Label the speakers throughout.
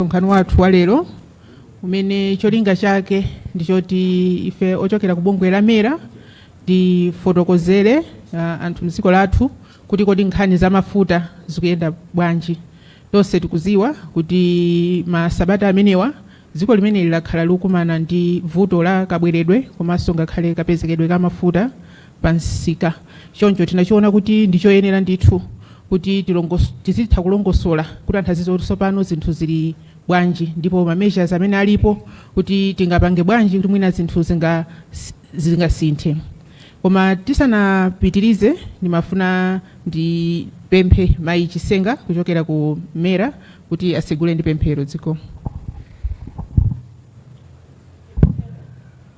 Speaker 1: msonkhano wathu wa lero umene cholinga chake ndi choti ife ochokera ku bungwe la mera tifotokozere uh, anthu mdziko lathu kuti kodi nkhani za mafuta zikuyenda bwanji tonse tikuziwa kuti masabata amenewa dziko limene lino lakhala likukumana ndi vuto la kabweredwe komanso ngakhale kapezekedwe ka mafuta pa msika. Choncho tinachiona kuti ndi choyenera ndithu kuti tilongos tizitha kulongosola kuti anthu azidziwa kuti tsopano zinthu zili bwanji ndipo ma measures amene alipo kuti tingapange bwanji kuti mwina zinthu zinga zingasinthe. Koma tisanapitirize ndimafuna ndipemphe mayi Chisenga kuchokera ku MERA kuti atitsegulire ndi pemphero zikomo.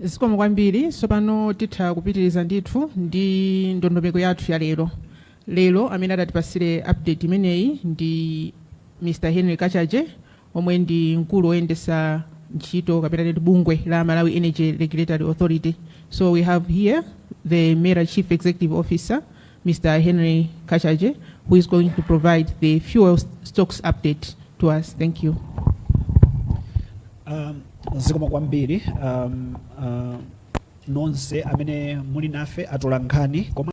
Speaker 1: zikomo kwambiri tsopano titha kupitiriza ndithu ndi ndondomeko yathu ya lero lero amene atatipasire update imeneyi ndi mr henry kachaje omwe ndi mkulu oyendesa ntchito kapena titi wa bungwe la Malawi Energy Regulatory Authority. So we have here the MERA Chief Executive Officer, Mr. Henry Kachaje, who is going to provide the fuel stocks update to us. Thank you.
Speaker 2: Um, zikomo kwambiri um, uh, nonse amene muli nafe atolankhani koma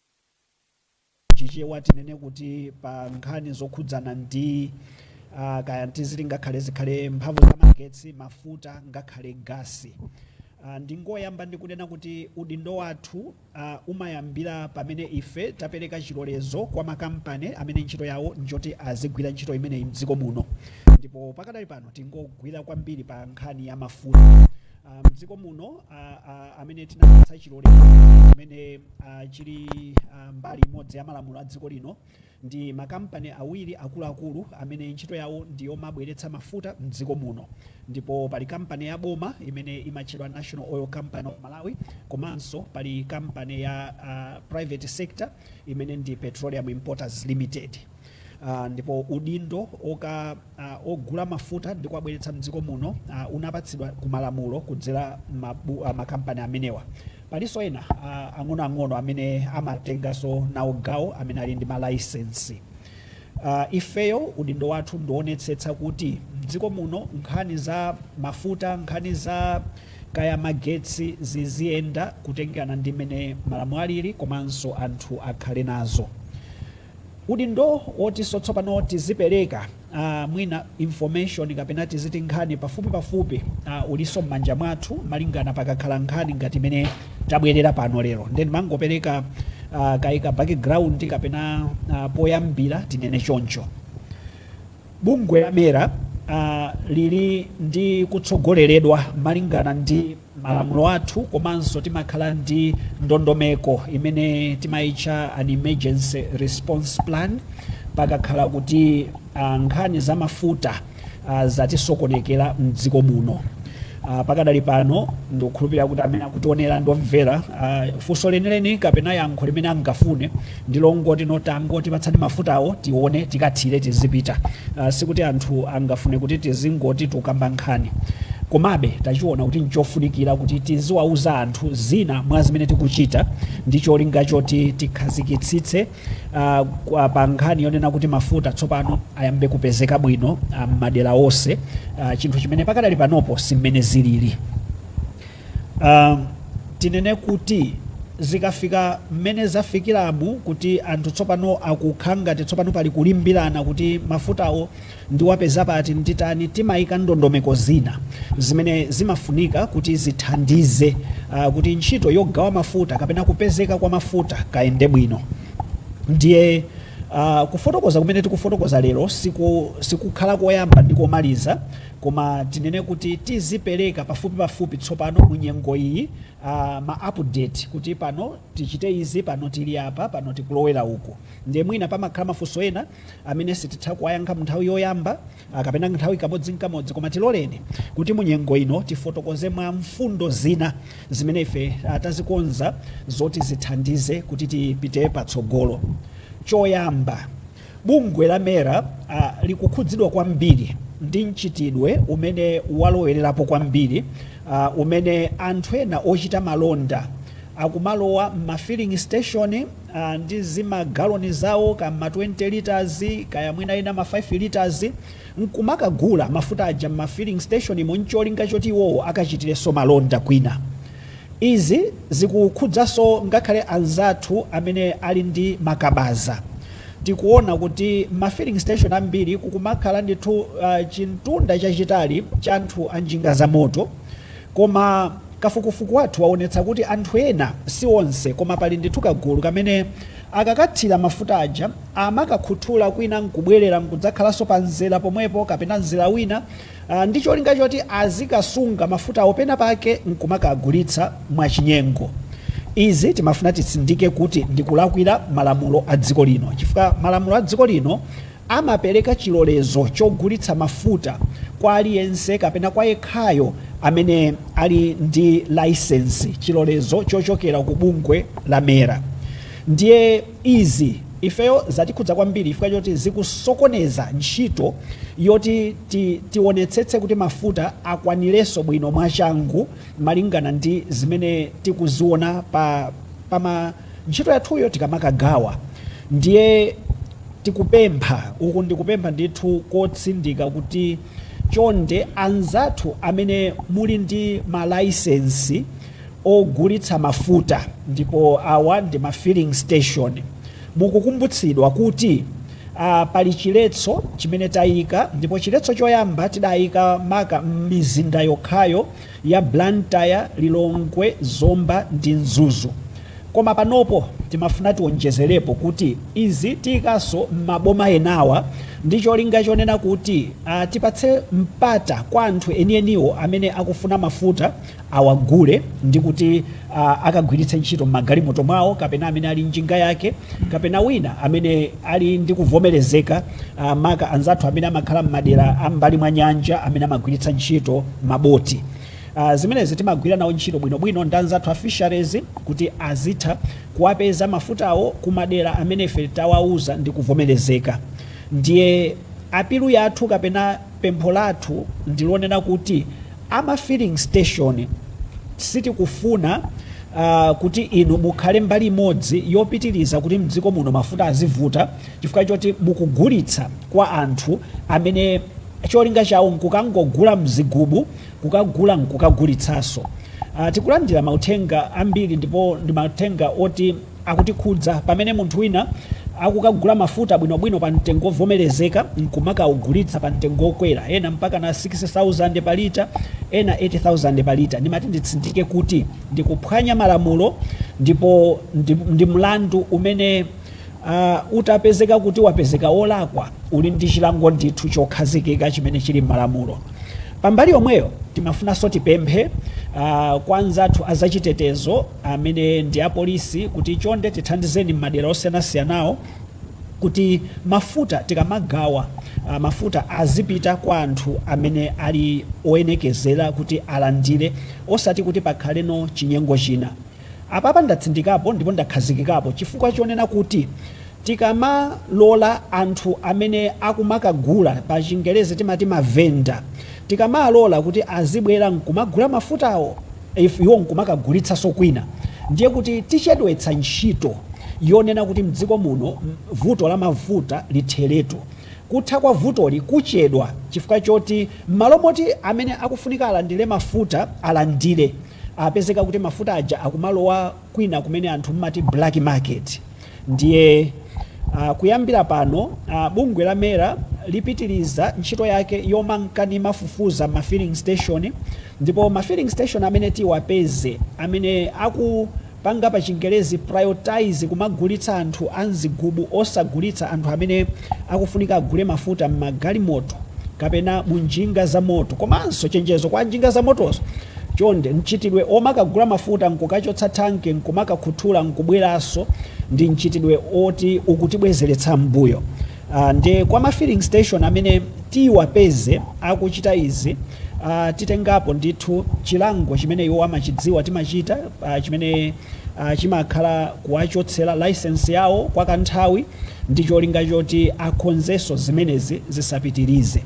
Speaker 2: chichewa tinene kuti pa nkhani zokhudzana ndi uh, kaya ndi zili ngakhale zikhale mphamvu za magetsi mafuta ngakhale gasi uh, ndingoyamba ndikunena kuti udindo wathu uh, umayambira pamene ife tapereka chilolezo kwa makampani amene ntchito yawo njoti azigwira ntchito imeneyi mdziko muno ndipo pakadali pano tingogwira kwambiri pa nkhani ya mafuta uh, mdziko muno uh, uh, amene tinapatsa chilolezo amene uh, chili uh, mbali imodzi ya malamulo a dziko lino ndi makampani awiri akuluakulu amene ntchito yawo ndi yomabweretsa mafuta mdziko muno ndipo pali kampani ya boma imene imatchedwa national oil company of malawi komanso pali kampani ya uh, private sector imene ndi petroleum importers limited Uh, ndipo udindo oka uh, ogula mafuta ndi kuwabweretsa mdziko muno uh, unapatsidwa ku malamulo kudzera mabu, uh, makampani amenewa palinso ena uh, ang'onoang'ono amene amatenganso nawo gawo amene ali ndi malaisensi uh, ifeyo udindo wathu ndi woonetsetsa kuti mdziko muno nkhani za mafuta nkhani za kaya magetsi ziziyenda kutengera ndi mmene malamulo alili komanso anthu akhale nazo Udindo wotinso tsopano tizipereka aah mwina information kapena tiziti nkhani pafupipafupi aah ulinso mmanja mwathu malingana pakakhala nkhani ngati imene tabwerera pano lero nde ndimangopereka aah kaye ka background kapena aah poyambira tinene choncho. Bungwe la MERA uh, lili ndi kutsogoleredwa malingana ndi malamulo athu komanso timakhala ndi ndondomeko imene timaitcha an emergency response plan pakakhala kuti uh, nkhani za mafuta uh, zatisokonekera mdziko muno Ah, pakadali pano ndikukhulupirira kuti amene akutionera ndi omvera ah, funso lenileni kapena yankho limene angafune ndi longoti no tangotipatsani mafutawo tione tikathire tizipita Ah, sikuti anthu angafune kuti tizingoti tukamba nkhani komabe tachiona kuti nchofunikira kuti tiziwauza anthu zina mwa zimene tikuchita ndi cholinga choti tikhazikitsitse ah, kwa- pa nkhani yonena kuti mafuta tsopano ayambe kupezeka bwino ah, m'madera onse ah, chinthu chimene pakadali panopo simmene zilili Ah, tinene kuti zikafika mmene zafikiramu kuti anthu tsopano akukhala ngati tsopano pali kulimbirana kuti mafutawo Ndiwapeza pati, nditani, timaika ndondomeko zina zimene zimafunika kuti zithandize kuti ntchito yogawa mafuta kapena kupezeka kwa mafuta kayende bwino. Ndiye kufotokoza kumene tikufotokoza lero sikukhala koyamba ndi komaliza koma tinene kuti tizipereka pafupipafupi tsopano mu nyengo iyi ma update kuti pano tichite izi, pano tili apa, pano tikulowera uku. Ndiye mwina pamakhala mafunso ena. amene sititha kuwayankha munthawi yoyamba kapena nthawi kamodzinkamodzi koma tiloleni kuti munyengo ino tifotokoze mwa mfundo zina zimene ife tazikonza zoti zithandize kuti tipite patsogolo choyamba bungwe la mera uh, likukhudzidwa kwambiri ndi mchitidwe umene walowererapo kwambiri uh, umene anthu ena ochita malonda akumalowa m'ma filling station Aaa ndi zimagaloni zawo ka ma 20 litres kaya mwina ena ma 5 litres nkumakagula mafuta aja mma filling station mo ncholinga choti iwowo akachitireso malonda kwina. Izi zikukhudzaso ngakhale anzathu amene ali ndi ma kabaza. Tikuona kuti mma filling station ambiri kukumakhala ndithu chimtunda chachitali cha anthu a njinga zamoto. Koma kafukufuku wathu waonetsa kuti anthu ena, si onse, koma pali ndithu kagulu kamene akakathira mafuta aja amakakhuthula kwina nkubwerera nkudzakhalanso pa mzera pomwepo kapena mzera wina ndi cholinga choti azikasunga mafutawo pena pake nkumakagulitsa mwachinyengo. Izi timafuna titsindike kuti ndi kulakwira malamulo a dziko lino chifukwa malamulo a dziko lino Amapereka chilolezo chogulitsa mafuta kwa aliyense kapena kwa yekhayo amene ali ndi layisensi, chilolezo chochokera ku bungwe la MERA. Ndiye izi ifeyo zatikhudza kwambiri chifukwa choti zikusokoneza ntchito yoti tionetsetse kuti mafuta akwanirenso bwino mwachangu malingana ndi zimene tikuziona pa, pa ma ntchito yathuyo tikamakagawa ndiye tikupempha uku ndikupempha ndithu kotsindika kuti chonde anzathu amene muli ndi malaisensi ogulitsa mafuta ndipo awa ndi ma filling station mukukumbutsidwa kuti uh, pali chiletso chimene tayika ndipo chiletso choyamba tidayika maka m'mizinda yokhayo ya Blantyre, Lilongwe, Zomba ndi Mzuzu koma panopo timafuna tionjezerepo kuti izi tiyikanso m'maboma enawa ndi cholinga chonena kuti tipatse mpata kwa anthu enieniwo amene akufuna mafuta awagule ndi kuti akagwiritse ntchito m'magalimoto mwawo kapena amene ali njinga yake kapena wina amene ali ndi kuvomerezeka ah, maka anzathu amene amakhala m'madera a m'mbali mwa nyanja amene amagwiritsa ntchito maboti Ah, zimenezi timagwira nawo ntchito bwinobwino ndi anzathu a fisheries kuti azitha kuwapeza mafutawo kumadera amene ife tawauza ndi kuvomerezeka ndiye apilu yathu kapena pempho lathu ndilonena kuti ama filling station sitikufuna uh, kuti inu mukhale mbali imodzi yopitiriza kuti mdziko muno mafuta azivuta chifukwa choti mukugulitsa kwa anthu amene cholinga chawo nkukangogula mzigubu kukagula nkukagulitsanso. Uh, tikulandira mauthenga ambiri ndipo ndi mauthenga oti akutikhudza pamene munthu wina akukagula mafuta bwinobwino pa mtengo wovomerezeka nkumakaugulitsa pa mtengo wokwera ena mpakana 6000 pa lita ena 8000 pa lita ndimati nditsindike kuti ndikuphwanya malamulo ndipo ndi, ndi mlandu umene Uh, utapezeka kuti wapezeka wolakwa uli ndi chilango ndithu chokhazikika chimene chili m'malamulo pambali yomweyo timafunanso tipemphe uh, kwa anzathu azachitetezo amene ndi apolisi kuti chonde tithandizeni m'madera osiyanasiyanawo kuti mafuta tikamagawa uh, mafuta azipita kwa anthu amene ali oyenekezera kuti alandire osati kuti pakhalenso chinyengo china Apapa ndatsindikapo ndipo ndakhazikikapo chifukwa chonena kuti tikamalola anthu amene akumakagula, pa chingerezi timati ma vendor, tikamalola kuti azibwera nkumagula mafutawo iwo nkumakagulitsaso kwina ndiye kuti tichedwetsa ntchito yonena kuti mdziko muno vuto la mafuta litheretu. Kutha kwa vutoli kuchedwa chifukwa choti mmalo moti amene akufunika alandire mafuta alandire, apezeka kuti mafuta aja akumalowa kwina kumene anthu mmati black market ndiye uh, kuyambira pano uh, bungwe la mera lipitiriza ntchito yake yomanka nimafufuza mma filling station ndipo ma filling station amene tiwapeze amene aku panga pa chingerezi prioritize kumagulitsa anthu a mzigubu osagulitsa anthu amene akufunika agule mafuta mmagalimoto kapena mu njinga za moto komanso chenjezo kwa anjinga za motoso chonde mchitidwe omakagula mafuta nkukachotsa thanki nkumakakhuthula nkubweranso ndi mchitidwe oti ukutibwezeretsa mmbuyo. Aaa nde kwa ma filling station amene tiwapeze akuchita izi aah titengapo ndithu chilango chimene iwo amachidziwa timachita aah chimene aah chimakhala kuwachotsera license yawo kwa kanthawi ndi cholinga choti akhonzenso zimenezi zisapitirize.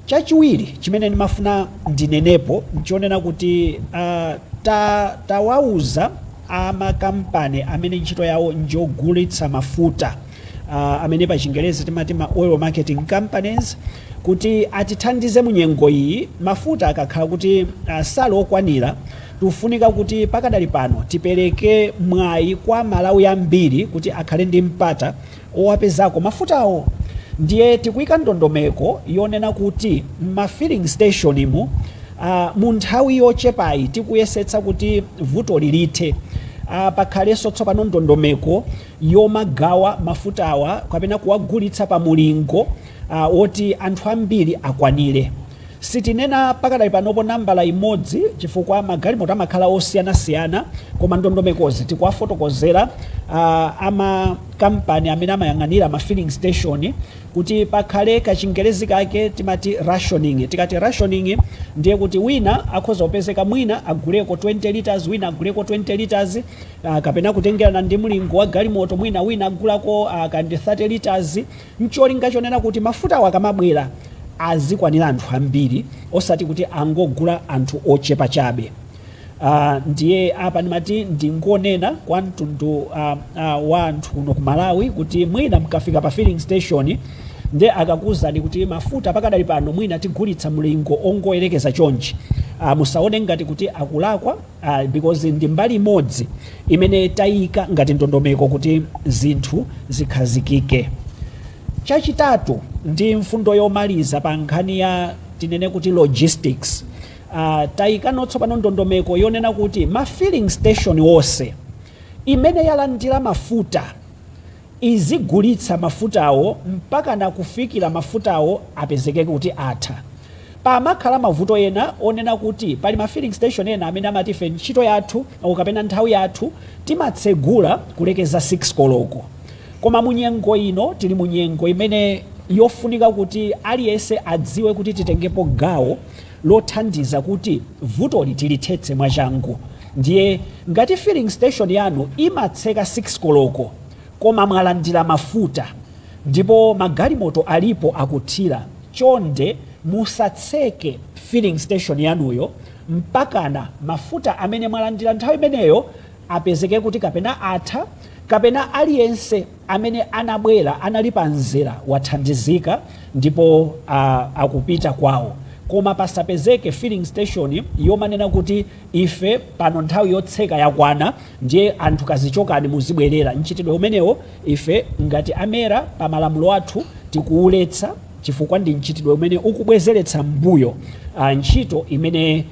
Speaker 2: Chachiwiri chimene ndimafuna ndinenepo nchonena kuti aah ta tawauza a ma kampani amene ntchito yawo njogulitsa mafuta, uh, amene pa chingerezi timati ma oil marketing companies kuti atithandize mu nyengo iyi mafuta akakhala kuti uh, sali okwanira tikufunika kuti pakadali pano tipereke mwayi kwa aMalawi ambiri kuti akhale ndi mpata owapezako mafutawo ndiye tikuyika ndondomeko yonena kuti mma filling station mu uh, mu nthawi yochepayi tikuyesetsa kuti vutoli lithe uh, pakhalenso tsopano ndondomeko yomagawa mafutawa kapena kuwagulitsa pa mulingo uh, woti anthu ambiri akwanire sitinena pakadali panopo nambala imodzi chifukwa magalimoto amakhala osiyanasiyana koma ndondomekozi tikuwafotokozera uh, amakampani amene amayang'anira ma filling station kuti pakhale kachingerezi kake timati rationing tikati rationing ndiye kuti wina akhoza kupezeka mwina aguleko 20 liters wina aguleko 20 liters Ah, kapena kutengerana ndi mlingo wa galimoto mwina wina agulako ah, ka ndi 30 liters ncholinga chonena kuti mafutawo akamabwera azikwanira anthu ambiri osati kuti angogula anthu ochepa chabe Ah, ndiye apa ndimati ndingonena kwa mtundu ah, ah, wa anthu kuno ku malawi kuti mwina mukafika pa filling station nde akakuwuzani kuti mafuta pakadali pano mwina tigulitsa mlingo wongoyerekeza chonchi ah, musaone ngati kuti akulakwa uh, because ndi mbali imodzi imene tayika ngati ndondomeko kuti zinthu zikhazikike chachitatu ndi mfundo yomaliza pa nkhani ya tinene kuti logistics uh, tayikanso tsopano ndondomeko yonena kuti ma filling station onse imene yalandira mafuta izigulitsa mafutawo mpakana kufikira mafutawo apezeke kuti atha. Pamakhala mavuto ena onena kuti pali ma filling station ena amene amati ife ntchito yathu or kapena nthawi yathu timatsegula kulekeza 6 koloko koma mu nyengo ino tili mu nyengo imene yofunika kuti aliyense adziwe kuti titengepo gawo lothandiza kuti vutoli tilithetse mwachangu. Ndiye ngati filling station yanu imatseka 6 koloko koma mwalandira mafuta ndipo magalimoto alipo akuthira, chonde musatseke filling station yanuyo mpakana mafuta amene mwalandira nthawi imeneyo apezeke kuti kapena atha kapena aliyense amene anabwera anali pa mzera wathandizika ndipo a, akupita kwawo koma pasapezeke filling station yomanena kuti Ife pano nthawi yotseka yakwana ndiye anthu kazichokani muzibwerera mchitidwe umenewo ife ngati a MERA pa malamulo athu tikuwuletsa chifukwa ndi mchitidwe umene ukubwezeretsa mmbuyo ntchito imene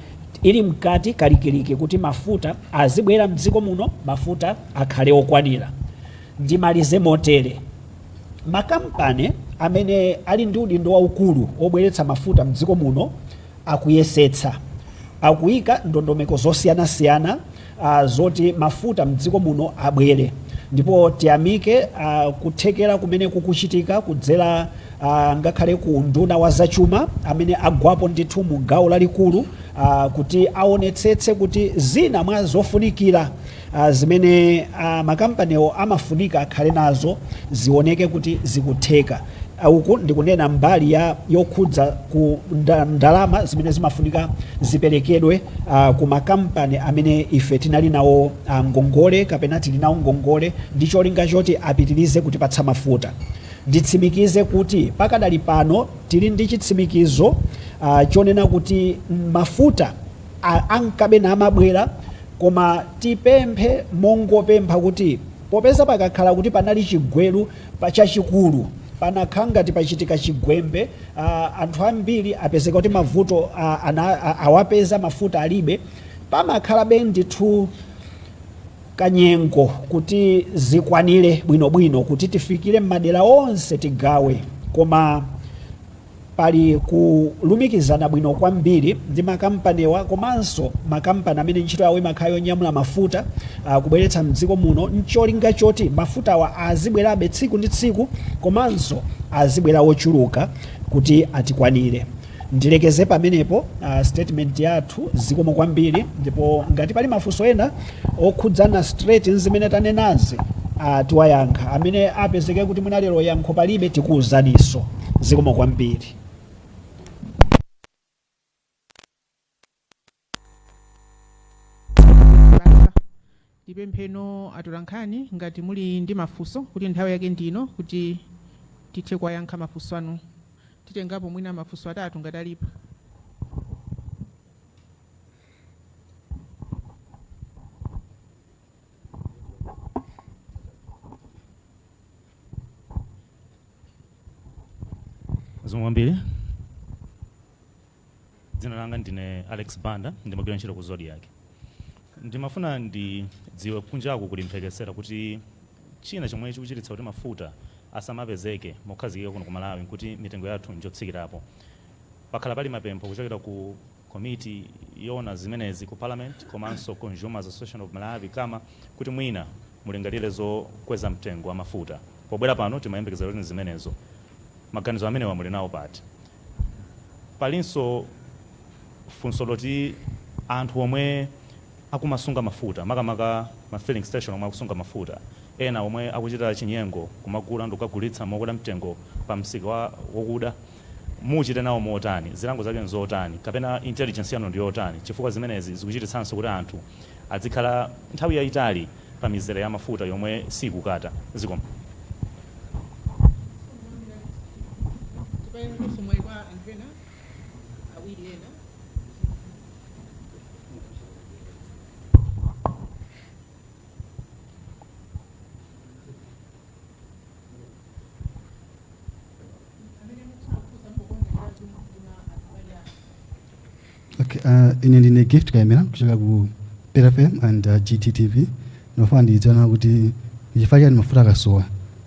Speaker 2: ili mkati kalikiliki kuti mafuta azibwera mdziko muno mafuta akhale okwanira. Ndimalize motere, makampani amene ali ndi udindo waukulu wobweretsa mafuta mdziko muno, akuyesetsa. Akuika ndondomeko zosiyanasiyana a zoti mafuta mdziko muno abwere ndipo tiyamike a kuthekera kumene kukuchitika kudzera a ngakhale ku unduna wa zachuma amene agwapo ndithu mu gawo lalikulu a kuti aonetsetse kuti zina mwa zofunikira a Zimene a makampaniwo amafunika akhale nazo zioneke kuti zikutheka. a Uku ndi kunena mbali ya yokhudza ku nda- ndalama zimene zimafunika ziperekedwe a, ku makampani amene ife tinali nawo a, ngongole kapena tili nawo ngongole ndi cholinga choti apitirize kutipatsa mafuta. Nditsimikize kuti pakadali pano tili ndi chitsimikizo a, chonena kuti mafuta a ankabe namabwera koma tipemphe mongopempha kuti popeza pakakhala kuti panali chigweru chachikulu panakhala ngati pachitika chigwembe anthu ambiri apezeka kuti mavuto awapeza mafuta alibe pamakhalabe ndithu kanyengo kuti zikwanire bwinobwino kuti tifikire m'madera onse tigawe koma Pali kulumikizana bwino kwambiri ndi makampaniwa komanso makampani amene ntchito yawo imakhala yonyamula mafuta kubweretsa m'dziko muno n'cholinga choti mafutawa azibwerabe tsiku ndi tsiku komanso azibwera ochuluka kuti atikwanire. Ndilekeze pamenepo statement yathu. Zikomo kwambiri ndipo ngati pali mafunso ena okhudzana straight nzimene tanenazi ah, tiwayankha amene apezeke kuti mwina lero yankho palibe tikuwuzaniso zikomo kwambiri.
Speaker 1: tipempheno atolankhani ngati muli ndi mafunso kuti nthawi yake ndino kuti tithe kuwayankha mafunso anu titengapo mwina mafunso atatu ngati alipo
Speaker 3: zikomo kwambiri dzina langa ndine alex banda ndimagwira ntchito ku zodiak ndimafuna ndidziwe kunjaku kuli mphekesera kuti china chomwe chikuchititsa kuti mafuta asamapezeke mokhazikika kuno ku malawi nkuti mitengo yathu njotsikirapo pakhala pali mapempho kuchokera ku komiti yoona zimenezi ku Parliament komanso Consumers Association of Malawi, Cama, kuti mwina mulingalire zokweza mtengo wa mafuta. Pobwera pano timayembekeza kuti n'zimenezo. Maganizo amenewa muli nawo pati? Palinso funso loti anthu omwe akumasunga mafuta, makamaka ma filling station omwe akusunga mafuta, ena omwe akuchita chinyengo kumagula ndikukagulitsa mokwera mtengo pamsika wokuda, Muchite nawo motani? Zilango zake n'zotani? Kapena intelligence yanu ndi yotani? Chifukwa zimenezi zikuchititsanso kuti anthu adzikhala nthawi yaitali pa mizere ya mafuta yomwe siikutha. Zikomo. Tiperekenso mwayi kwa anthu ena awiri ena.
Speaker 4: Okay, uh, ine ndine gift kaimira kuchokera ku PFM and uh, GTTV ndofuna ndidziwe kuti chifukwa chani mafuta akasowa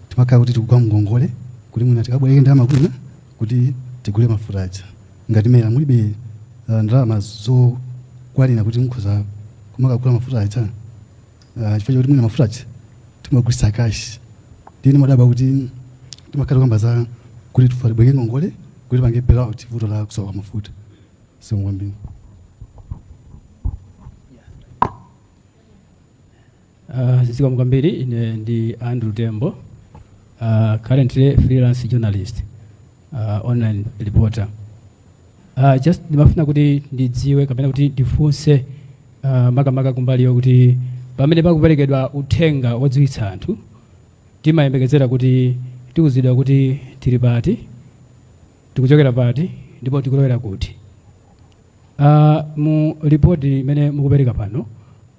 Speaker 4: timakhala kuti tikugwa mngongole kuti mwina tikabwereke ndalama kwina kuti tigule mafuta aja ngati MERA mulibe uh, ndalama zokwanira kuti mukhoza kumakagula mafuta aja Ah, chifukwa chakuti mwina mafuta aja timagulitsa cash ndiye ndimadabwa kuti timakhala tikukamba za kuti tibwereke ngongole kuti tipange bailout vuto la kusowa kwa mafuta zikomo
Speaker 5: kwambiri Uh, zikomo kwambiri ine ndi andrew tembo uh, currently freelance journalist uh, online reporter uh, just ndimafuna kuti ndidziwe kapena kuti ndifunse uh, makamaka kumbali yokuti pamene pakuperekedwa uthenga wodziwitsa anthu timayembekezera kuti tiuzidwa kuti tili pati tikuchokera pati ndipo tikulowera kuti Uh, mu lipoti imene mukupereka pano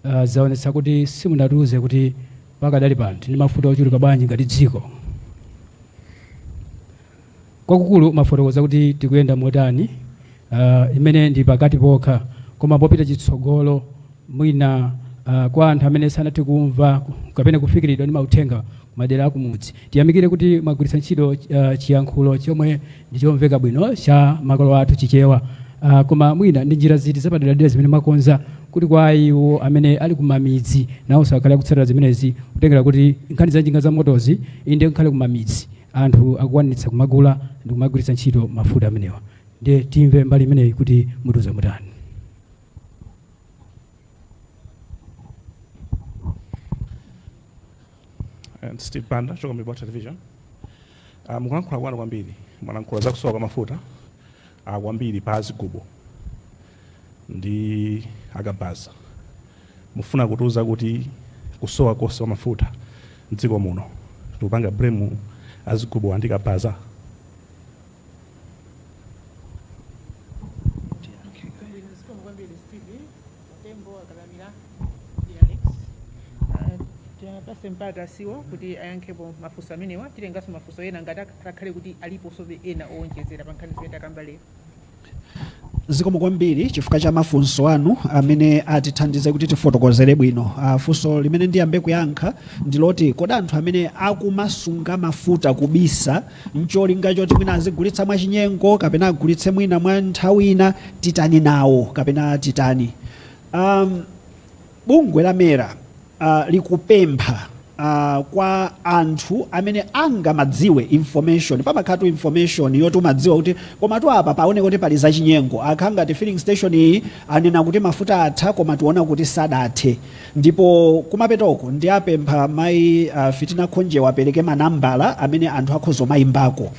Speaker 5: uh, zaonetsa kuti simunatiuze kuti pakadali pano tili ndi mafuta ochuluka bwanji ngati dziko kwakukulu mwafotokoza kuti tikuyenda motani uh, imene ndi pakati pokha koma popita chitsogolo mwina uh, kwa anthu amene sanathe kumva kapena kufikiridwa ndi mauthenga kumadera akumudzi tiyamikire kuti mwagwiritsa ntchito uh, chiyankhulo chomwe ndi chomveka bwino cha makolo athu Chichewa. Ah, koma mwina ndi njira ziti zapaderadera zimene mwakonza kuti kwa iwo amene ali kumamidzi nawonso akhale akutsatira zimenezi kutengera kuti nkhani za njinga za motozi inde ngakhale kumamidzi anthu akukwanitsa kumagula ndi kumagwiritsa ntchito mafuta amenewa ndiye timve mbali imeneyi kuti mutiuza motani
Speaker 6: And Steve Banda, kuchokera Mibawa Television. Uh, mukulankhula kwanu kwambiri mwalankhula za kusowa kwa mafuta uh, kwambiri pa azigubo ndi akabaza mufuna kutiuza kuti kusowa konse kwa mafuta mdziko muno tikupanga blame azigubo ndi akabaza
Speaker 1: tembo akalamira Ah, tiwapatse mpata CEO kuti ayankhepo mafunso amenewa titenganso mafunso ena ngati ak- akhale kuti aliponsobe ena owonjezera pa nkhani zimene takamba lero
Speaker 2: zikomo kwambiri chifukwa cha mafunso anu amene atithandize kuti tifotokozere bwino Ah, funso limene ndiyambe kuyankha ndiloti kodi anthu amene akumasunga mafuta kubisa ncholinga choti mwina azigulitsa mwachinyengo kapena agulitse mwina mwa nthawi ina titani nawo kapena titani um, bungwe la mera uh, likupempha uh, kwa anthu amene angamadziwe information pamakhala tu information yoti umadziwa kuti koma tu apa paoneka kuti pali zachinyengo akhala ngati filling station iyi anena kuti mafuta atha koma tiona kuti sadathe Ndipo kumapetoku ndiapempha mai uh, Fitina Khonje apereke manambala amene anthu akhoza kumayimbako.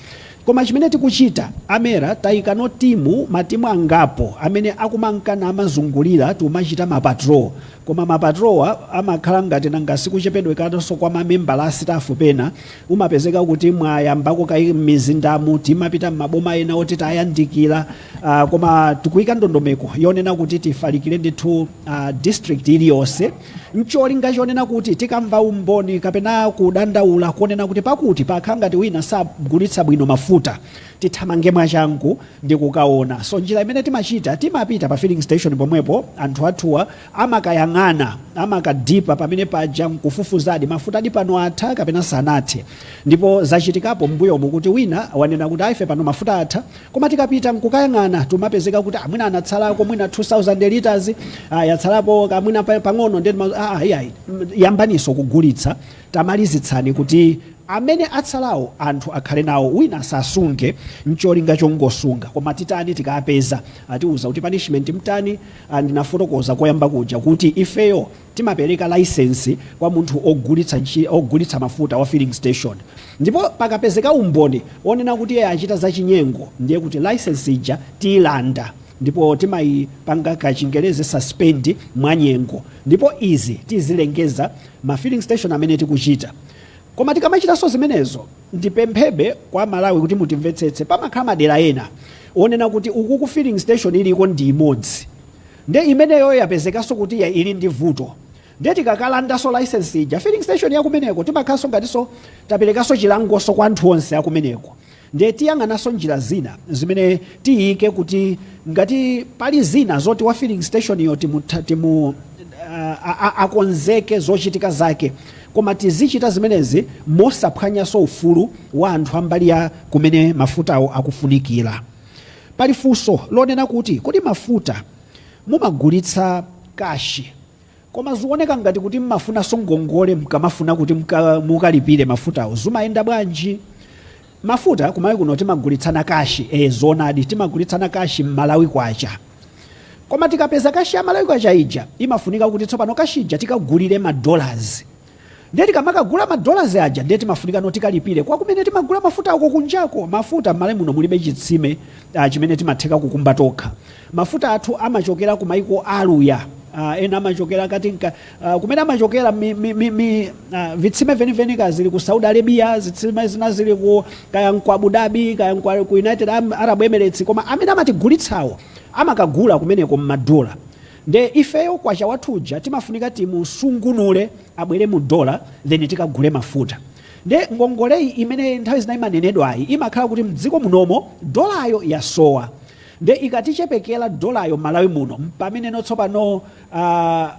Speaker 2: Koma chimene tikuchita a Mera tayikano timu matimu angapo amene akumanka namazungulira tikumachita ma patrol. Koma ma patrolwa amakhala ngati nanga sikuchepedwekanso kwa mamembala a sitafu pena umapezeka kuti mwayambako kaye m'mizindamu timapita m'maboma ena oti tayandikira. Uh, koma tikuyika ndondomeko yonena kuti tifalikire ndithu uh, district iliyonse ncholinga chonena kuti tikamva umboni kapena kudandaula konena kuti pakuti pakhala ngati wina sagulitsa bwino mafuta tithamange mwachangu ndi kukaona so njira imene timachita timapita pa filling station pomwepo anthu athuwa amakayang'ana amakadipa pamene paja nkufufuzadi mafuta adi pano atha kapena sanathe ndipo zachitikapo mbuyomu kuti wina wanena kuti aife pano mafuta atha Koma tikapita nkukayang'ana tumapezeka kuti ah, mwina anatsalako mwina 2000 liters ah, yatsalapo ka- mwina pa- pang'ono ndiye tima- ah, ah, iyayi mm, yambaninso kugulitsa tamalizitsani kuti amene atsalawo anthu akhale nawo wina asasunge ncholinga chongosunga koma titani tikapeza atiuza kuti punishment mtani ah, ndinafotokoza koyamba kuja kuti ifeyo Timapereka layisensi kwa munthu ogulitsa mafuta wa filling station ndipo pakapezeka umboni onena kuti iye achita zachinyengo ndiye kuti layisensi ija tiyilanda ndipo timayipanga kachingerezi suspend mwanyengo ndipo izi tizilengeza ma filling station amene tikuchita koma tikamachitanso zimenezo ndipemphebe kwa aMalawi kuti mutimvetsetse pamakhala madera ena onena kuti uku ku filling station iliko ndi imodzi Nde imeneyo yapezekanso kuti ya ili ndi vuto. Nde tikakalandanso license ija filling station ya kumeneko timakhalanso ngatinso taperekanso chilangonso kwa anthu onse akumeneko. Nde tiyang'ananso njira zina zimene tiyike kuti ngati pali zina zoti wa filling station yo timu- timu- aah akonzeke zochitika zake koma tizichita zimenezi mosaphwanyanso ufulu wa anthu ambali ya kumene mafutawo akufunikira. Pali funso lonena kuti kodi mafuta mumagulitsa cash koma zioneka ngati kuti mmafunanso ngongole mkamafuna kuti mukalipile mafutawo zumayenda bwanji? Mafuta ku Malawi kuno timagulitsana cash ee zoonadi timagulitsana cash m'Malawi kwacha koma tikapeza cash ya malawi kwacha ija imafunika kuti tsopano cash ija tikagulile ma dollars. Ndiye tikamakagula ma dollars aja ndiye timafunikano tikalipire kwa kumene timagula mafutako kunjako. Mafuta m'Malawi muno mulibe chitsime ah, chimene timatheka kukumba tokha. Mafuta athu amachokera ku maiko a Aluya ah, ena amachokera kati nka, ah, kumene amachokera mi, mi, mi, mi, ah, vitsime veniveni kaya zili ku Saudi Arabia, zitsime zina zili ku kaya nku Abu Dhabi kaya nku ku United Am- Arab Emirates, koma amene amatigulitsawo amakagula kumeneko m'madola Nde ifeyo kwacha wathu uja timafunika timusungunule abwere mu dollar then tikagule mafuta. Nde ngongoleyi imene nthawi zina imanenedwayi imakhala kuti mdziko munomo dollaryo yasowa. Nde ikatichepekela dollaryo mmalawi muno mpamene no tsopano a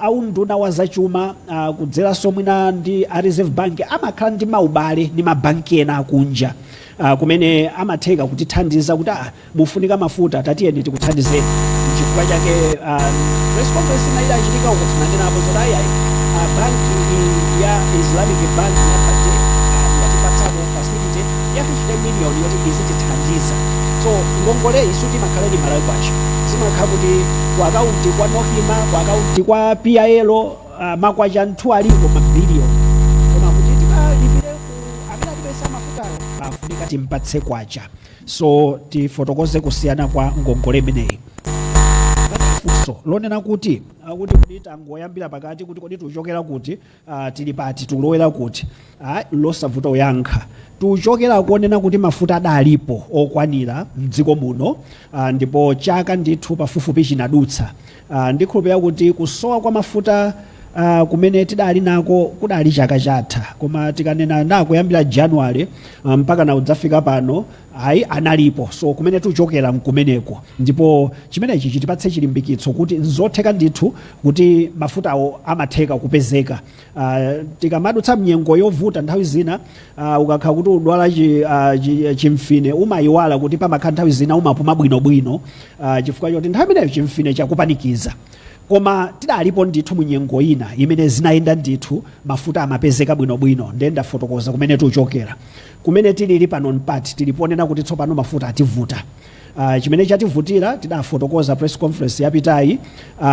Speaker 2: a unduna wa zachuma kudzelanso mwina ndi a reserve bank amakhala ndi maubale ndi ma bank ena akunja kumene amatheka kutithandiza kuti a mufunika mafuta tatiyeni tikuthandizeni nchifukwa chake ah, press conference ina idachitika uko tinanenapo zoti ayayi ah, banki i- ya islamic bank ya BADEA yatipatsako facility ya 50 million yoti izitithandiza so ngongole isu timakhala ndi Malawi kwacha zimakhala kuti ku akaunti kwa NOCMA ku akaunti kwa PIL uh, makwacha ndithu aliko mabiliyoni koma kuti tikalipire ku amene atipatsa mafutawo afunika timpatse kwacha so tifotokoze kusiyana kwa ngongole imeneyi funso lonena kuti akuti kodi tangoyambira pakati kuti kodi tuchokera kuti ah, tili pati tulowera kuti ah, losavuta kuyankha tuchokera konena kuti mafuta adalipo okwanira mdziko muno ah, ndipo chaka ndithu pafupifupi chinadutsa Ndikhulupirira kuti kusowa kwa mafuta kumene tidali nako kudali chaka chatha koma tikanena za kuyambira January mpakana kudzafika pano ayi analipo so kumene tuchokera nkumeneko ndipo chimenechi chitipatse chilimbikitso kuti nzotheka ndithu kuti mafutawo amatheka kupezeka. Uh, tikamadutsa mnyengo yovuta nthawi zina uh, ukakhala kuti udwala chi, uh, chi, chimfine umayiwala kuti pamakhala nthawi zina umapuma bwinobwino uh, chifukwa choti nthawi imeneyo chimfine chakupanikiza koma tidalipo ndithu munyengo ina imene zinayenda ndithu mafuta amapezeka bwinobwino ndiye ndafotokoza kumene tuchokera kumene tilili pano mpati tili ponena kuti tsopano mafuta ativuta Uh, chimene chativutira tidafotokoza press conference yapitayi uh,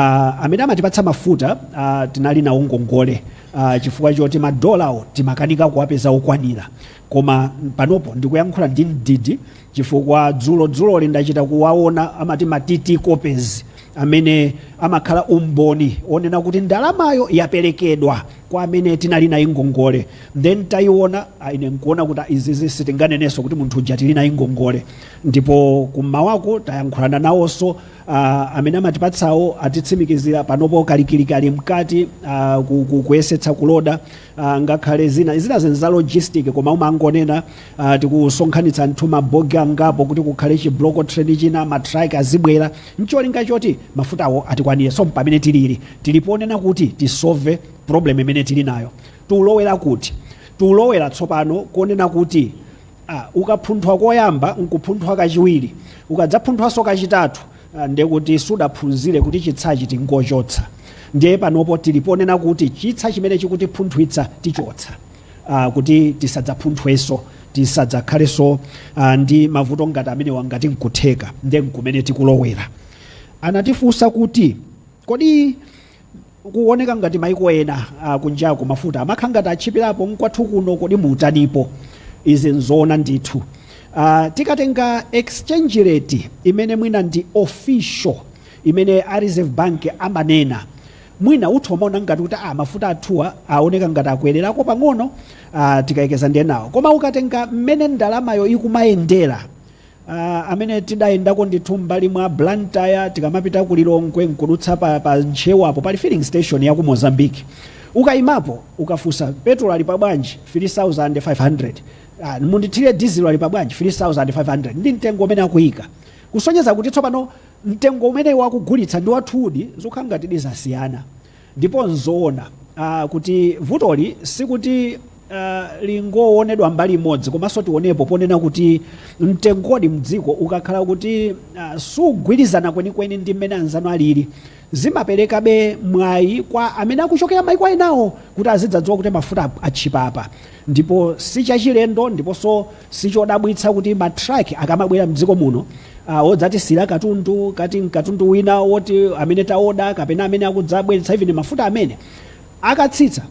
Speaker 2: amene amatipatsa mafuta uh, tinali nawo ngongole uh, chifukwa choti madolawo timakanika kuwapeza okwanira koma panopo ndikuyankhula ndi mdidi chifukwa dzulo dzuloli ndachita kuwaona amati ma TT copies amene amakhala umboni onena kuti ndalamayo yaperekedwa kwa amene tinali nawo ngongole nde ntayiona ah, ine nkuona kuti ah, izizi sitinganenenso kuti munthu uja tili naye ngongole ndipo kummawaku tayankhulana nawonso uh, amene amatipatsawo atitsimikizira panopo kalikilikali mkati uh, ku- ku- kuyesetsa kuloda uh, ngakhale zina zina zinthu za logistic koma umangonena uh, tikusonkhanitsa nthu mabogi angapo kuti kukhale chi-block train china matraki azibwera ncholinga choti mafutawo atikwanire so mpamene tilili Tili ponena kuti tisove problem imene tili nayo, tiulowera kuti? Tiulowera tsopano konena kuti a, ukaphunthwa koyamba nkuphunthwa kachiwiri, ukadzaphunthwanso kachitatu a, ndekuti sudaphunzire kuti chitsachi tingochotsa. Ndiye panopo tili ponena kuti chitsa chimene chikutiphunthwitsa tichotsa a, kuti tisadzaphunthwenso, tisadzakhalenso a, ndi mavuto ngati amenewa ngati nkutheka. Ndiye nkumene tikulowera. Anatifunsa kuti. Kodi kuoneka ngati maiko ena akunjaku mafuta amakhala ngati atchipilapo nkwathu kuno kodi mutanipo? izi nzoona ndithu uh, tikatenga exchange rate imene mwina ndi official imene a reserve bank amanena mwina munthu umaona ngati kuti ah, mafuta athuwa aoneka ngati akwererako pang'ono uh, tikayerekeza ndi enawo koma ukatenga mmene ndalamayo ikumayendera a Amene tidayendako ndithu m'mbali mwa Blantyre tikamapita ku Lilongwe n'kudutsa pa pa Ntcheu apo pali filling station ya ku Mozambique. Ukaimapo ukafunsa, Petulo ali pa bwanji? 3500. Ah, mundithire dizilo ali pa bwanji? 3500. Ndi mtengo umene akuika. Kusonyeza kuti tsopano mtengo umene iwo akugulitsa ndi wathudi, zikukhala ngatidi zasiyana. Ndipo n'zoona uh kuti vutoli sikuti uh lingowonedwa mbali imodzi komanso tionepo ponena kuti mtengodi mdziko ukakhala kuti uh sugwirizana kwenikweni ndi mmene anzanu alili, zimaperekabe mwayi kwa amene akuchokera maiko enawo kuti azidzadziwa kuti mafuta atchipa apa. Ndipo si chachilendo ndiponso si chodabwitsa kuti ma truck akamabwera mdziko muno odzatisiyira katundu, kaya nkatundu wina woti amene taoda kapena amene akudzabweretsa even mafuta amene, akatsitsa,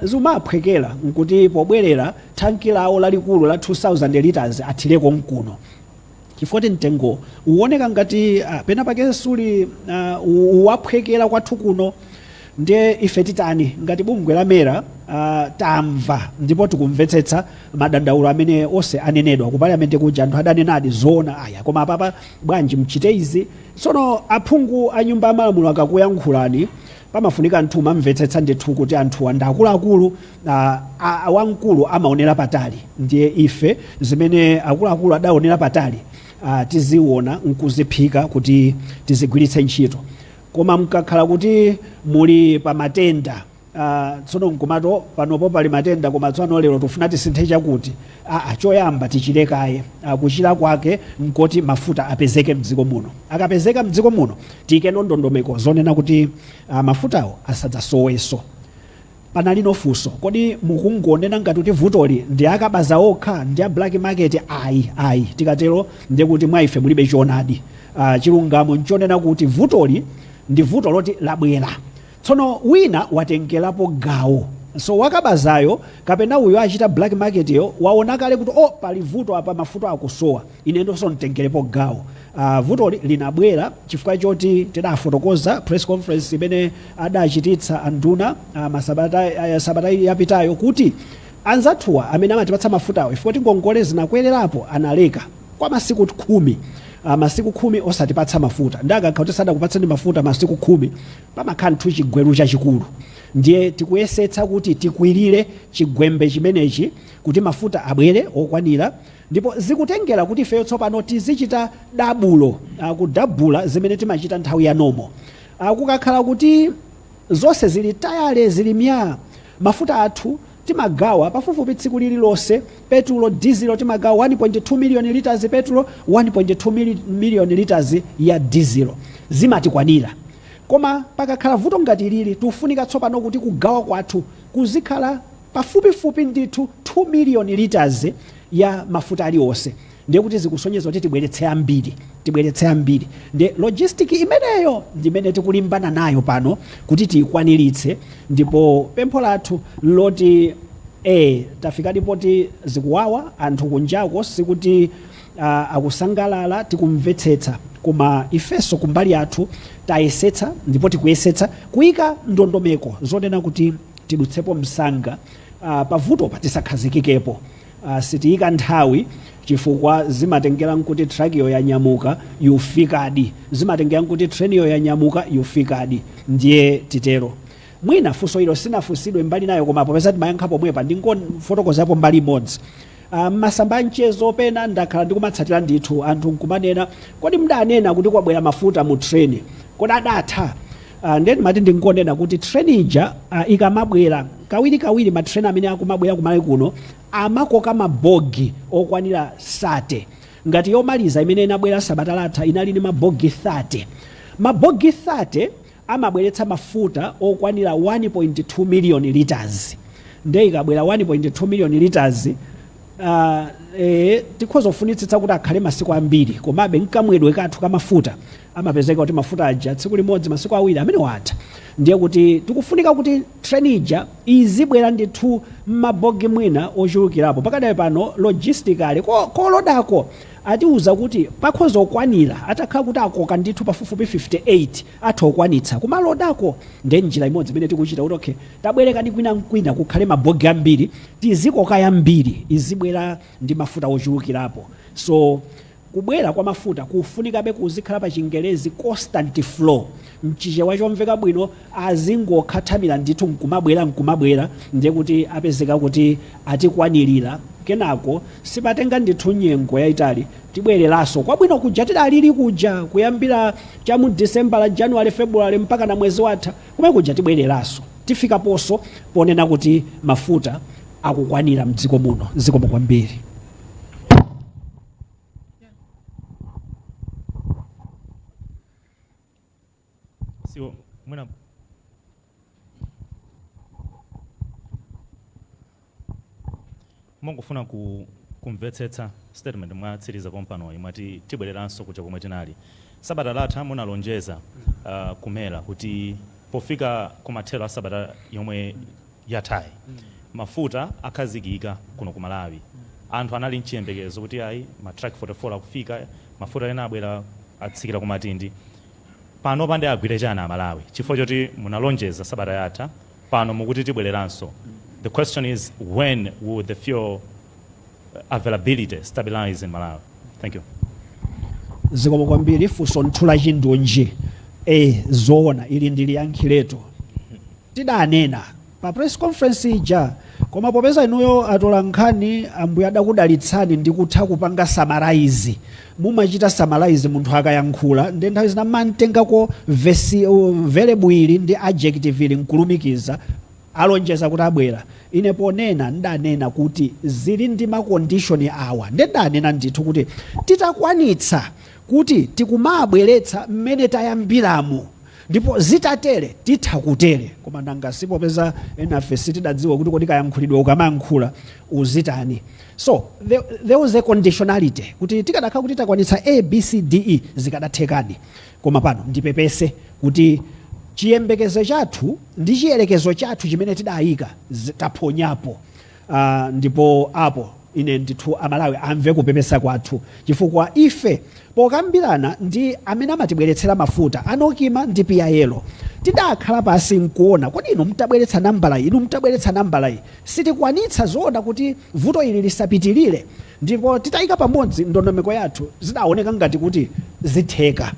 Speaker 2: zimawaphwekera nkuti pobwerera thanki lawo lalikulu la 2000 litres athire konkuno. chifukwa choti mtengo uwoneka ngati ah, pena pake suli ah, u- uwaphwekera kwathu kuno ndiye ife titani ngati bungwe la mera ah, tamva ndipo tikumvetsetsa madandaulo amene onse anenedwa ku parliament kuja anthu adanenadi zoona ayi koma apapa bwanji mchite izi tsono aphungu a nyumba ya malamulo akakuyankhulani Pamafunika anthu mumamvetsetsa ndithu kuti anthuwa ndi akuluakulu a, a, a wamkulu amaonera patali ndiye ife zimene akuluakulu adaonera patali a, tiziona nkuziphika kuti tizigwiritse ntchito koma mkakhala kuti muli pa matenda a, tsono nkumati panopo pali matenda koma tsopano lero tikufuna tisinthe chakuti aa choyamba tichire kaye a kuchira kwake nkoti mafuta apezeke mdziko muno akapezeka mdziko muno tiike ndondomeko zonena kuti a, mafutawo asadzasoweso panalinso funso kodi mukungonena ngati kuti vutoli ndi akabaza okha ndi a black market ayi ayi tikatero ndiye kuti mwa ife mulibe choonadi uh, chilungamo nchonena kuti vutoli ndi vuto loti labwera Tsono wina watengerapo gawo. So wakabazayo kapena uyo achita black market yo waona kale kuti oh pali vuto apa mafuta akusowa inenso nditengerepo gawo. Uh, vutoli linabwera chifukwa choti tidafotokoza press conference imene adachititsa anduna uh, masabata, uh, sabata yapitayo kuti anzathuwa amene amatipatsa mafutawo chifukwa choti ngongole zinakwererapo analeka. kwa masiku khumi. Uh, masiku khumi osatipatsa mafuta ndiye akakhala kuti sadakupatseni mafuta masiku khumi pamakhala ndithu chigwembe chachikulu ndiye tikuyesetsa kuti tikwirire chigwembe chimenechi kuti mafuta abwere okwanira ndipo zikutengera kuti ifeyo tsopano tizichita dabulo uh, kudabula zimene timachita nthawi ya nomo uh, kukakhala kuti Zonse zili tayale, zili myaa! Mafuta athu timagawa pafupifupi tsiku lililonse. Petulo, dizilo timagawa 1.2 miliyoni litazi petulo, 1.2 miliyoni litazi ya dizilo. Zimatikwanira. Koma pakakhala vuto ngati ilili, tikufunika tsopano kuti kugawa kwathu kuzikhala pafupifupi ndithu 2 miliyoni litazi ya mafuta alionse. ndiye kuti zikusonyeza kuti tibweretse ambiri tibweretse ambiri ndiye logistic imeneyo ndimene tikulimbana nayo pano kuti tiyikwaniritse ndipo pempho lathu loti e tafikadi poti zikuwawa anthu kunjako sikuti uh, akusangalala tikumvetsetsa koma ifenso kumbali yathu tayesetsa ndipo tikuyesetsa kuyika ndondomeko zonena kuti tidutsepo msanga uh, pavutopa tisakhazikikepo Sitiika nthawi chifukwa zimatengera nkuti truckiyo yanyamuka, ikufikadi. Zimatengera nkuti trainiyo yanyamuka, ikufikadi. Ndiye titero. Mwina funso ilo silinafunsidwe mbali inayo koma popeza timayankha pomwepa ndingofotokozapo mbali imodzi. M'masamba a mchezo pena ndakhala ndikumatsatira ndithu, anthu nkumanena, Kodi mudanena kuti kwabwera mafuta mu train? Kodi adatha? Ah, ndiye ndimati ndingonena kuti train ija ah, ikamabwera kawiri kawiri ma train amene akumabwera kumalawi kuno amakoka mabogi okwanira 30 ngati yomaliza imene inabwera sabata latha inali ndi mabogi 30 mabogi 30 amabweretsa mafuta okwanira 1.2 million liters ndiye ikabwera 1.2 million liters uh, e, tikhoza kufunitsitsa kuti akhale masiku ambiri komabe mkamwedwe kathu kamafuta amapezeka kuti mafuta aja tsiku limodzi masiku awiri amenewo atha ndiye kuti tikufunika kuti train ija izibwera ndithu m'mabogi mwina ochulukirapo pakadali pano logistically kolodako atiuza kuti pakhoza kukwanira atakhala kuti akoka ndithu pafupifupi 58 atha kukwanitsa kumaloda uko ndiye njira imodzi imene tikuchita kuti okay tabwereka kwina nkwina kukhale mabogi ambiri tizikoka yambiri izibwera ndi mafuta ochulukirapo so Kubwera kwa mafuta kufunikabe kuzikhala pa chingerezi constant flow, mchichewa chomveka bwino azingokhathamira ndithu nkumabwera nkumabwera ndiye kuti apezeka kuti atikwanilira kenako sipatenga ndithu nyengo yaitali tibweleraso kwabwino kuja tidalili kuja kuyambira cha mu Disembala, Januwale, Febuluwale mpakana mwezi watha komwe kuja tibweleraso tifikaposo ponena kuti mafuta akukwanira mdziko muno. Zikomo kwambiri.
Speaker 3: so mwina ndingofuna kumvetsetsa statement mwatsiriza pompanoyi mwati tibwereranso kuja komwe tinali sabata latha munalonjeza uh, ku MERA kuti pofika kumathero a sabata yomwe yathayi mafuta akhazikika kuno ku Malawi anthu anali nchiyembekezo kuti ayi ma truck 44 akufika mafuta ena abwera atsikira ku Matindi panopa nde agwire chani a Malawi chifukwa choti munalonjeza sabata yatha pano mukuti tibwereranso the question is when will the fuel availability stabilize in Malawi? Thank you.
Speaker 2: zikomo kwambiri funso ndithu la chindunji e zoona ili ndiliyankhiretu tidanena pa press conference ija koma popeza inuyo atola nkhani ambuye adakudalitsani ndi kutha kupanga summarize mumachita summarize munthu akayankhula ndi nthawi zina mumatengako verb ili ndi adjective ili nkulumikiza alonjeza kuti abwera. Ine ponena, n'danena kuti zili ndi makondishoni awa. Ndiye n'danena ndithu kuti titakwanitsa kuti tikumawabweretsa mmene tayambiramu ndipo zitatere titha kutere. Koma nanga si popeza enafe sitidadziwa kuti kodi kayankhulidwe ukamayankhula uzitani. So, there was a conditionality kuti tikadakhala kuti takwanitsa A, B, C, D, E zikadathekadi. Koma pano ndipepese kuti chiyembekezo chathu ndi chiyerekezo chathu chimene tidaika taphonyapo uh, ndipo apo ine ndithu amalawi amve kupepesa kwathu chifukwa ife pokambirana ndi amene amatibweretsera mafuta a NOCMA ndi PIL tidakhala pansi nkuona kodi inu mtabweretsa nambala iyi inu mtabweretsa nambala iyi sitikwanitsa zoona kuti vuto ili lisapitilire ndipo titayika pamodzi ndondomeko yathu zidawoneka ngati kuti zitheka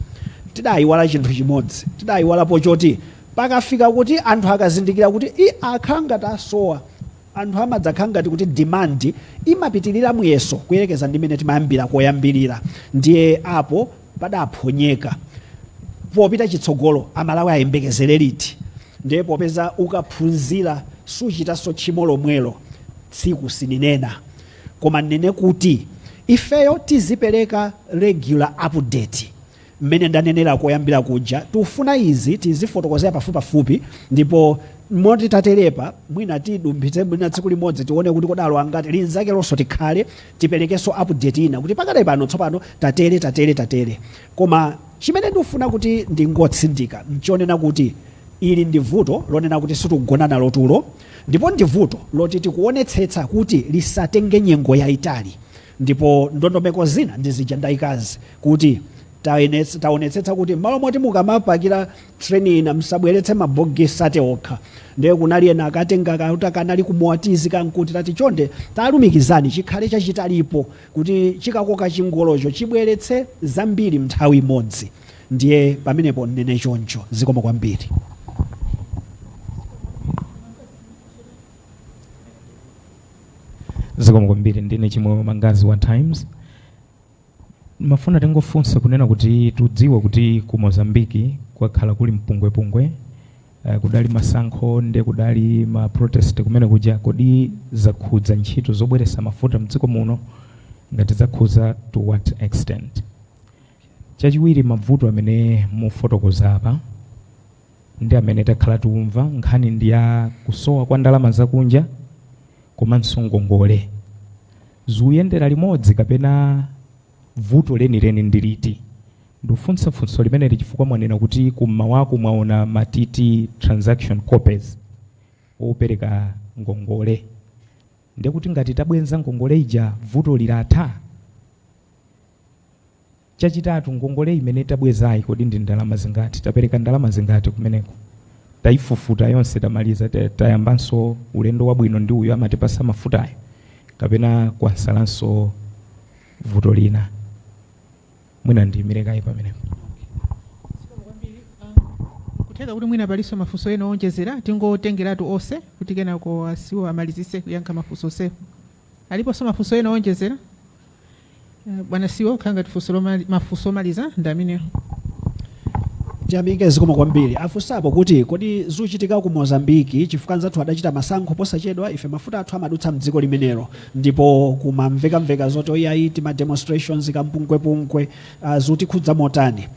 Speaker 2: tidayiwala chinthu chimodzi tidayiwalapo choti pakafika kuti anthu akazindikira kuti ii akhala ngati asowa anthu amadzakhala ngati kuti demand imapitilira muyeso kuyerekeza ndi mene timayambira koyambilira ndiye apo padaphonyeka popita chitsogolo amalawi ayembekezele liti ndiye popeza ukaphunzira suchitanso tchimo lomwelo tsiku sininena koma nnene kuti ifeyo tizipereka regular update mmene ndanenera koyambira kuja tufuna izi tizifotokozera pafupipafupi ndipo moti taterepa mwina tidumphitse mwina tsiku limodzi tione kuti kodi alowa angati linzakelonso tikhale tiperekenso update ina kuti pakadali pano tsopano tatere tatere tatere koma chimene ndufuna kuti ndingotsindika nchonena kuti ili ndi vuto lonena kuti sitikugona nalo tulo ndipo ndi vuto loti tikuonetsetsa kuti lisatenge nyengo yaitali ndipo ndondomeko zina ndi zija ndaikazi kuti taonetsetsa kuti mmalo moti mukamapakira train ina msabweretse ma bogie 30 okha ndiye kunali ena akatenga ka kuti kanali ku Moatize ka nkuti tati chonde talumikizani chikhale chachitalipo kuti chikakoka chingolocho chibweretse zambiri mnthawi imodzi ndiye pamenepo nnene choncho zikomo
Speaker 7: kwambiri zikomo kwambiri ndine Chimwemwe Mangazi wa Times Ndimafuna tingofunsa kunena kuti tudziwa kuti ku Mozambique kwakhala kuli mpungwepungwe uh, kudali masankho nde kudali ma protest kumene kuja kodi zakhudza ntchito zobweretsa mafuta mdziko muno ngati zakhudza to what extent chachiwiri mabvuto amene mufotokoza apa ndi amene takhala tikumva nkhani ndi ya kusowa kwa ndalama zakunja komanso ngongole zikuyendera limodzi kapena vuto lenileni ndi liti ndikufunsa funso limeneli chifukwa mwanena kuti kummawaku mwaona ma TT transaction copies opereka ngongole ndekuti ngati tabwenza ngongole ija vuto lilatha Chachitatu, ngongole imene tabwezayi kodi ndi ndalama zingati, tapereka ndalama zingati kumeneko, tayifufuta yonse tamaliza, tayambanso ulendo wabwino ndi uyo amatipasa mafutayo kapena kwatsalanso vuto lina. Mwina ndiyimire kaye pamenepo. Zikomo kwambiri.
Speaker 1: Ah, kutheka kuti mwina palinso mafunso ena owonjezera tingotengeratu onse kuti kenako a CEO amalizitse kuyankha mafunso onsewo. Aliponso mafunso ena owonjezera? Eh, Bwana CEO akhala ngati funso lomali- mafunso omaliza ndi amenewo tiyamike
Speaker 2: zikomo kwambiri afunsapo kuti kodi zuchitika ku mozambiki chifukwa anzathu adachita masankho posachedwa ife mafuta athu amadutsa mdziko limenelo ndipo kumamvekamveka zoti ayayi timademonstrations kampungwepungwe uh, zutikhudza motani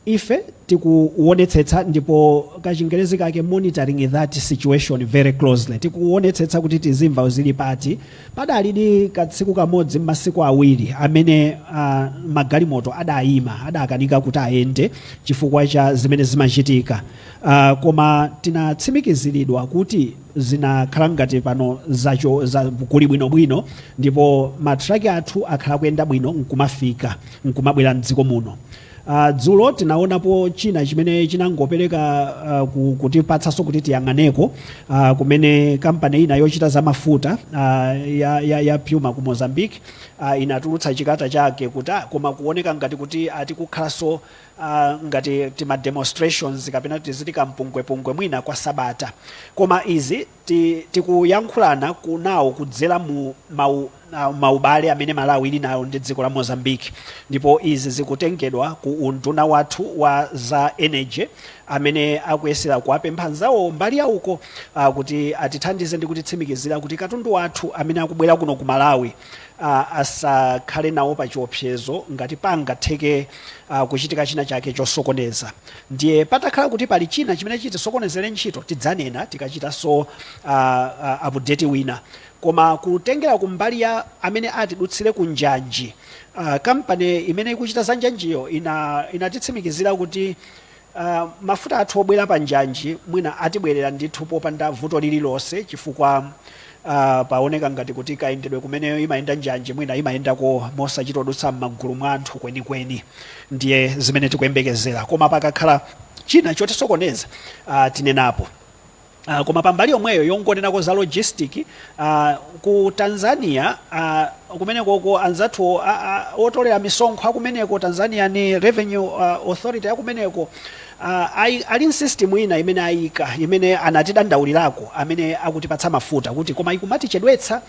Speaker 2: Ife tikuwonetsetsa, ndipo kachingerezi kake, monitoring that situation very closely, tikuwonetsetsa kuti tizimva kuti zili pati. Padalidi katsiku kamodzi mmasiku awiri amene a, magalimoto adayima, adakanika kuti ayende chifukwa cha zimene zimachitika, a, koma tinatsimikiziridwa kuti zinakhala ngati pano zacho, za, kuli bwinobwino ndipo ma truck athu akhala akuyenda bwino nkumafika, nkumabwera mdziko muno. Uh, dzulo tinaonapo china chimene chinangopereka uh, ku- kutipatsanso kuti tiyang'aneko uh, kumene kampani ina yochita za mafuta uh, ya, ya, ya Puma ku Mozambique uh, inatulutsa chikata chake kuti ah, koma kuoneka ngati kuti ati kukhalanso uh, ngati tima demonstrations kapena tizitikampungwepungwe mwina kwa sabata koma izi ti, tikuyankhulana kunawo kudzera mu mau, na- maubale amene malawi ili nayo ndi dziko la mozambique ndipo izi zikutengedwa ku unduna wathu wa za energy amene akuyesera kuwapempha nzawo mbali ya uko ah, kuti atithandize ndi kutitsimikizira kuti katundu wathu amene akubwera kuno ku malawi ah, asakhale nawo pa chiopsezo ngati pangatheke ah, kuchitika china chake chosokoneza Ndiye patakhala kuti pali china chimene chitisokonezere ntchito, tidzanena tikachitanso update wina. Koma kutengera ku mbali ya amene atidutsire ku njanji, kampani imene ikuchita za njanjiyo inatitsimikizira kuti mafuta athu obwera pa njanji mwina atibwerera ndithu popanda vuto lililonse chifukwa a Paoneka ngati kuti kayendedwe kumene imayenda njanji mwina imayendako mosachita kudutsa m'magulu mwa anthu kwenikweni. Ndiye zimene tikuyembekezera. Koma pakakhala china chotisokoneza a tinenapo. a Koma pa mbali yomweyo yongonenako za logistic, a ku Tanzania a kumenekoko anzathuwo a a otolera misonkho a kumeneko, Tanzanian Revenue a Authority a kumeneko, Aaah ali ndi system ina imene ayika imene anatidandaulirako amene akutipatsa mafuta kuti koma ikumatichedwetsa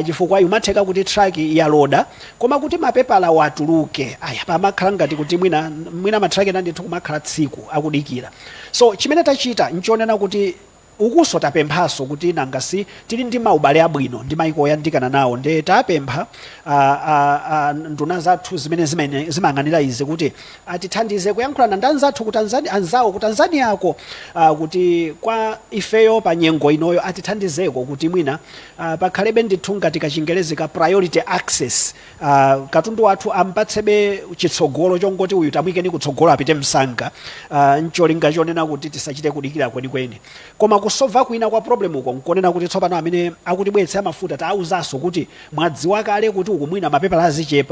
Speaker 2: chifukwa ikumatheka kuti truck yaloda koma kuti mapepalawo atuluke ayi pamakhala ngati kuti mwina mwina ma truck ena ndithu kumakhala tsiku akudikira so chimene tachita nchonena kuti Ukuso tapemphaso kuti nanga si tili ndi ma ubale abwino ndi maiko oyandikana nawo nde tapempha a a a nduna zathu zimene zimayang'anira izi kuti atithandize kuyankhulana ndi anzathu ku Tanzania anzawo ku Tanzania ko a kuti kwa ifeyo pa nyengo inoyo atithandizeko kuti mwina a pakhalebe ndithu ngati ka chingelezi ka priority access Aaa katundu wathu ampatsebe chitsogolo chongoti uyu tamuyikeni kutsogolo apite msanga aah ncholinga chonena kuti tisachite kudikira kwenikweni. Koma kusova kwina kwa problem uko nkonena kuti tsopano amene akutibweretsa mafuta taawuzaso kuti mwadziwa kale kuti uku mwina mapepala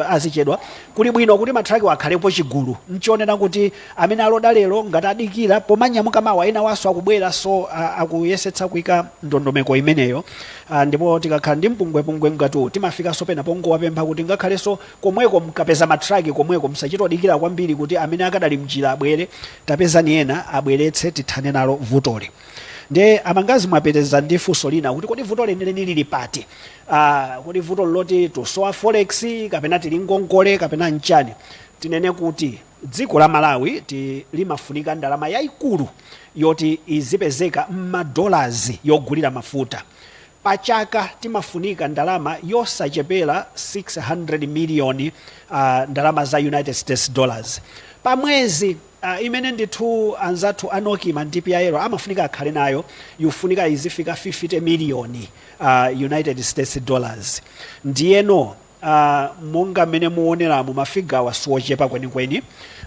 Speaker 2: azichedwa kuli bwino kuti ma truck wa akhalepo chigulu nchonena kuti amene aloda lero ngati adikira pomanyamuka mawa enawanso akubwera so uh, akuyesetsa kuika ndondomeko imeneyo uh, ndipo tikakhala ndi mpungwepungwe ngati uwu timafikanso pena pongowapempha kuti ngakhalenso komweko mkapeza matraki komweko msachitodikira kwambiri kuti amene akadali mjira abwere tapezani ena abweretse tithane nalo vutoli nde amangazi mwapitiriza ndi funso lina kuti kodi vuto lenileni lili pati uh, kodi vuto loti tusowa forex kapena tili ngongole kapena nchani tinene kuti Dziko la Malawi ti limafunika ndalama yaikulu yoti izipezeka mma dollars yogulira mafuta. Pa chaka timafunika ndalama yosachepela 600 million a ndalama za United States dollars pa mwezi a imene ndithu anzathu a Nocma ndi PIL amafunika akhale nayo yufunika izifika 50 million a United States dollars. Ndiyeno. Uh, monga mmene muoneramo mafigawa siwochepa kwenikweni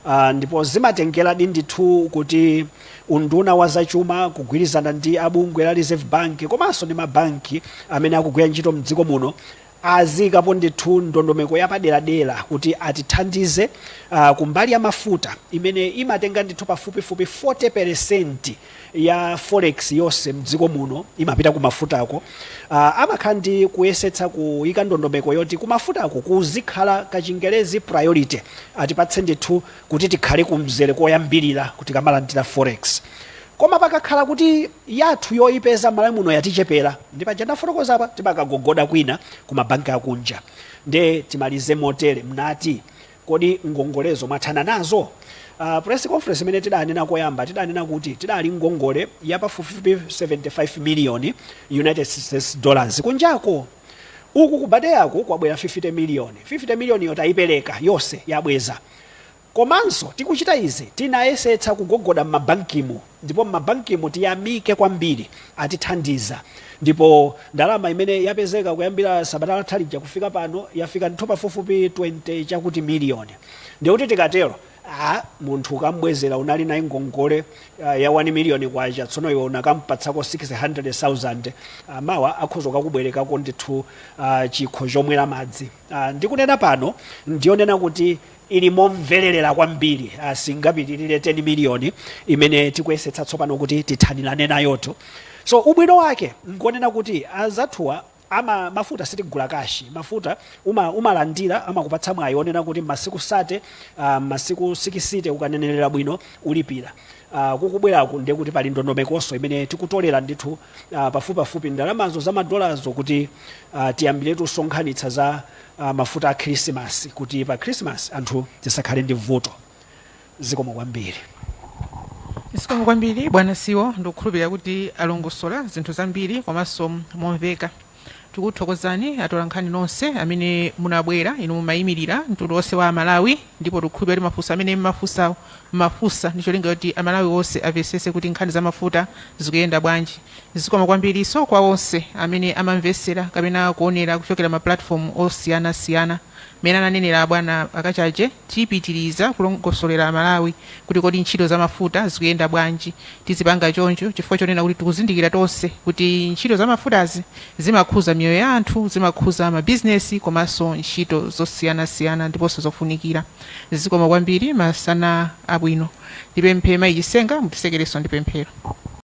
Speaker 2: uh, ndipo zimatengeradi ndithu kuti unduna wa zachuma kugwirizana ndi abungwe la reserve bank komanso ndi mabanki amene akugwira ntchito mdziko muno aziikapo ndithu ndondomeko yapaderadera kuti atithandize uh, kumbali ya mafuta imene imatenga ndithu pafupifupi 40 peresenti ya forex yose mdziko muno imapita kumafutako uh, amakhala ndi kuyesetsa kuyika ndondomeko yoti kumafutako kuzikhala kachingelezi priority atipatse ndithu kuti tikhale kumzere koyambirira tikamalandira forex koma pakakhala kuti yathu yoyipeza malawi muno yatichepera ndi paja ndafotokoza apa timakagogoda kwina ku mabanki akunja nde timalize motere mnati Kodi ngongolezo mwathana nazo? Press conference imene tidanena koyamba, tidanena kuti tidali ngongole ya pafupifupi 75 miliyoni United States dollars kunjako. Uku ku BADEA-ku kwabwera 50 miliyoni. 50 miliyoniyo tayipereka yonse, yabweza. Komanso tikuchita izi tinayesetsa kugogoda m'mabankimu. ndipo mmabankimu tiyamike kwambiri atithandiza ndipo ndalama imene yapezeka kuyambira sabata latha lija kufika pano yafika ndithu pafupifupi 20 chakuti miliyoni ndikuti tikatero a munthu ukambwezera unali naye ngongole ah, ya 1 miliyoni kwacha tsono iwe unakampatsako 600000 ah, mawa akhoza kukubwerekako ndithu ah, chikho chomwera madzi Ah, ndikunena pano ndiyonena kuti ili momvererera kwambiri ah, singapitirire 10 miliyoni imene tikuyesetsa tsopano kuti tithanirane nayotu so ubwino wake ngonena kuti anzathuwa a mafuta sitigula kashi mafuta uma, umalandira amakupatsa mwayi onena kuti masiku sate uh, masiku sikisite ukanenerera bwino ulipira uh, kukubweraku ndiye kuti pali ndondomekonso imene tikutolera ndithu uh, pafupipafupi ndalamazo za madolazo kuti uh, tiyambiretu kusonkhanitsa za a mafuta a khilisimasi kuti pa khilisimasi anthu tisakhale ndi vuto. Zikomo
Speaker 1: kwambiri. Zikomo kwambiri bwana CEO ndikukhulupirira kuti alongosola zinthu zambiri komanso momveka. Tikuthokozeni atolankhani nonse amene munabwera, inu mumayimirira mtundu wonse wa Amalawi ndipo tikukhulupirira kuti mafunso amene mmafunsawo, mmafunsa ndi cholinga choti Amalawi onse amvetsetse kuti nkhani za mafuta zikuyenda bwanji. Zikomo kwambiriso kwa onse amene amamvesera kapena kuonera kuchokera ma platform osiyana siyana. Mmene ananenera bwana a Kachaje tipitiliza kulongosolera Amalawi kuti kodi ntchito za mafuta zikuyenda bwanji. Tizipanga choncho chifukwa chonena kuti tikuzindikira tonse kuti ntchito za mafutazi zimakhuza miyoyo ya anthu, zimakhuza ma business komanso ntchito zosiyana siyana ndiponso zofunikira. Zikomo kwambiri masana abwino. Ndipemphe mayi Chisenga mutisekereso ndi pemphero.